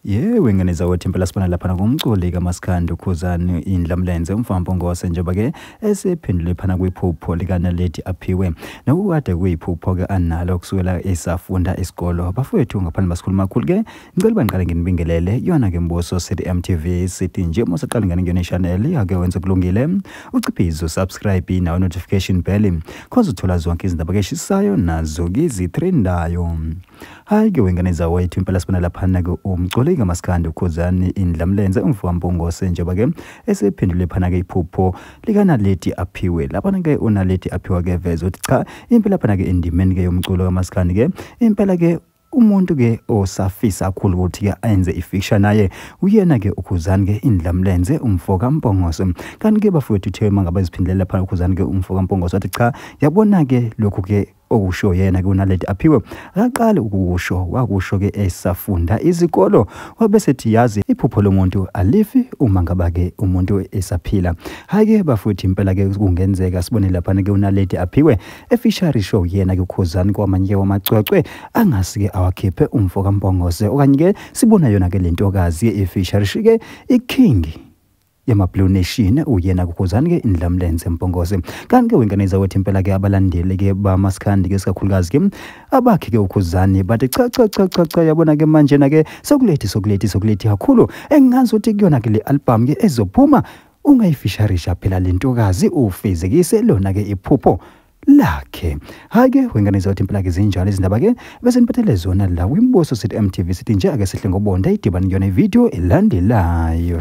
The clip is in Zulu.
yewe ngane zakwethu impela sibona laphana kumculi kamasikandi ukhuzani indlamlenze umfambo ngose njengoba-ke esephendule phana kwiphupho likanaledi aphiwe nokukade kuyiphupho-ke analo kusukela esafunda isikolo bafowethu ngaphandle basikhuluma kakhulu-ke ngicela uba ngiqale nginibingelele yona ke mbuso sithi mtv sithi nje uma usaqala ngane kuyona ishanel ake wenze kulungile uciphize usubscribe nawe notification bell cause uthola zonke izindaba ke shisayo nazo kizitrendayo hayi ke wengane zawethu impela sibona laphana ke umculi kamaskandi ukhuzani indlamlenze umfowambongose njengoba ke esephendule phana ke iphupho likanaleti aphiwe laphana ke unaleti aphiwa ke veze ukuthi cha impela phana ke endimeni ke yomculo kamaskandi ke impela ke Umuntu ke osafisa kakhulu ukuthi ke ayenze ifixture naye uyena ke ukhuzani ke indlamlenze umfoka Mpongoso kanti ke bafowethu uthe uma ngabe iziphindelela phana ukhuzani ke umfoka Mpongoso wathi cha yabona ke lokhu ke okusho yena ke unaledi aphiwe akaqali ukusho wakusho ke esafunda izikolo wabe sethi yazi iphupho lomuntu alifi uma ngaba ke umuntu esaphila hayi ke bafuthi impela ke kungenzeka sibone lapha ke unaledi aphiwe efishari show yena ke ukhuzani kwamanye wamacwecwe angasike awakhiphe umfo kaMbongoze okanye ke sibona yona ke lentokazi efishari shike iking yamablue nation uyena kukhuzani ke indlamlenze mpongose kanti ke wengane zakwethu impela ke abalandeli ke bamaskandi ke sikakhulukazi ke abakhe ke ukhuzani bathi cha cha cha cha cha yabona ke manje na ke sokulethi sokulethi sokulethi kakhulu engazi ukuthi kuyona ke le album ke ezophuma ungayifisharisha phela lentokazi ufezekise lona ke iphupho lakhe hayi ke wengane zothi impela ke zinjalo izindaba ke bese niphathele zona la kwimbuso sithi MTV sithi nje ake sihle ngobonda idibani yona ivideo elandelayo